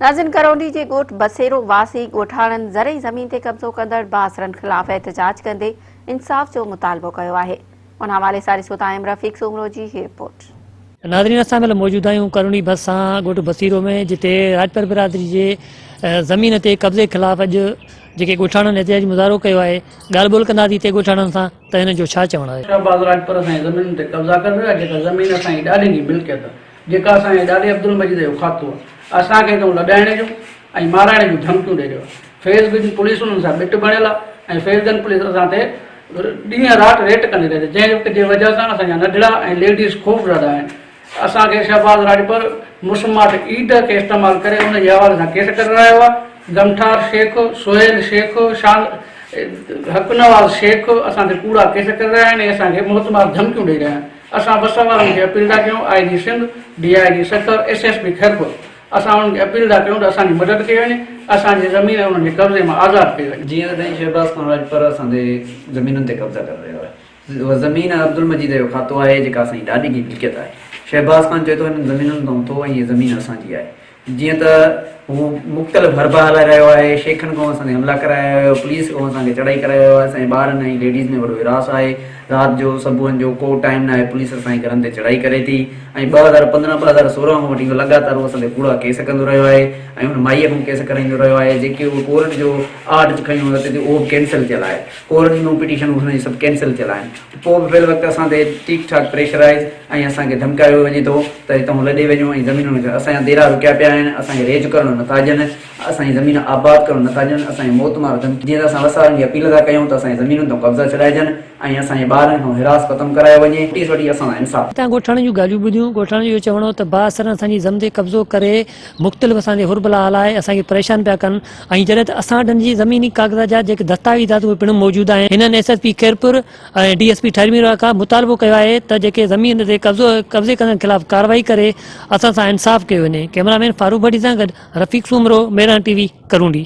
ناظرين ڪرونڊي جي ڳوٺ بسيرو واسي ڳوٺاڻن زرعي زمين تي قبضو ڪندڙ بااثرن خلاف احتجاج ڪندي انصاف جو مطالبو ڪيو آهي ان حوالي سان ڏسو ٿا ايم رفيق سومرو جي هي رپورٽ. ناظرين اسان ان مهل موجود آهيون ڪرونڊي ڀرسان ڳوٺ بسيرو ۾ جتي راڄپر برادري جي زمين تي قبضي خلاف اڄ جيڪي ڳوٺاڻن احتجاجي مظاهرو ڪيو آهي ڳالهه ٻولهه ڪنداسين اتي ڳوٺاڻن سان ته هنن جو ڇا چوڻ آهي. شهباز راڄپر اسان جي زمينن تي قبضا ڪري رهيو آهي جيڪا زمين اسان جي ڏاڏن جي ملڪيت جيڪا اسان جي ڏاڏي عبدالمجيد جو کاتو آهي. اسان کي تون لڏائڻ جون ۽ مارائڻ جون ڌمڪيون ڏئي رهيو آهي. فيض گن پوليس انهن سان ٻٽ بڻيل آهي ۽ فيض گن پوليس اسان تي ڏينهن رات ريٽ ڪندي رهي ٿي جنهن جي وجه سان اسان جا ننڍڙا ۽ ليڊيز خوفزده آهن. اسان کي شهباز راڄپر مسماٽ اي ڊ کي استعمال ڪري ان جي حوالي سان ڪيس ڪري رهيو آهي. گمٺار شيخ، سهيل شيخ، شان حقنواز شيخ اسان تي ڪوڙا ڪيس ڪري رهيا آهن ۽ اسان کي موتمار ڌمڪيون ڏئي رهيا آهن. اسان بس وارن کي اپيل ٿا ڪيون، I G Sindh, D I G Sukkur, S S P Khairpur, اسان انهن کي اپيل ٿا ڪيون ته اسان جي مدد ڪئي وڃي، اسان جي زمين انهن جي قبضي مان آزاد ڪئي وڃي. جيئن ته سائين شهباز خان راڄپر اسان تي زمينن تي قبضا ڪري رهيو آهي، اها زمين عبدالمجيد جو کاتو آهي جيڪا اسان جي ڏاڏي جي ملڪيت آهي، شهباز خان چوي ٿو هنن زمينن تان اٿو ۽ هي زمين اسان جي آهي، جيئن ته هو مختلف حربا هلائي رهيو آهي، شيخن ڪون اسان تي حملا ڪرائي آيو آهي، پوليس ڪون اسان کي چڙهائي ڪرائي آيو آهي، اسان جي ٻارن ۽ ليڊيز ۾ وڏو هراس آهي، رات جو صبحن جو ڪو ٽائيم نه آهي پوليس اسان جي گهرن تي چڙهائي ڪري ٿي ۽ ٻه هزار پندرهن ٻه هزار سورهن کان وٺي هو لڳاتار هو اسان تي ڪوڙا ڪيس ڪندو رهيو آهي ۽ هن مائيء کان ڪيس ڪرائيندو رهيو آهي جيڪي هو ڪورٽ جو آرڊر کيون اتي تي اهو به ڪينسل ٿيل آهي ڪورٽ جون پٽيشنون هن جون سڀ ڪينسل ٿيل آهن. پوء به پهل وقت اسان تي ٺيڪ ٺاڪ پريشرائيز ۽ اسان کي ڌمڪايو وڃي ٿو ته هتان لڏي وڃو ۽ زمينون وڪڻ اسان جا ديرا رڪيا پيا آهن اسان کي ريج ڪرڻو نٿا ڏين اسان جي زمينون آباد ڪرڻو نٿا ڏين اسان کي موت مار ڌمڪيون جيئن ته اسان وسارن کي اپيل ٿا ڪيون ته اسان جي زمينن تان قبضا ڇڏائجن ۽ اسان جي ٻارن کان هراس ختم ڪرايو وڃي نوٽيس وٺي اسان سان انصاف هتان ڳوٺاڻن جون ڳالهيون ٻڌيون ڳوٺاڻن جو اهو چوڻ هو ته بااثرن اسان جي زم تي قبضو ڪري مختلف اسان جي هربلا هلائي اسان کي پريشان پيا ڪن ۽ جڏهن ته اسان وٽ هن جي زميني ڪاغذات جا جيڪي دستاويزات اهي پڻ موجود آهن. هنن S S P Khairpur ۽ D S P ٺهرمي روهيلا کان مطالبو ڪيو آهي ته جيڪي زمين تي قبضي ڪندڙن خلاف ڪارروائي ڪري اسان سان انصاف ڪيو وڃي ڪئميرا مين فاروق ڀٽي سان گڏ رفيق سومرو ميران ٽي وي ڪرونڊي.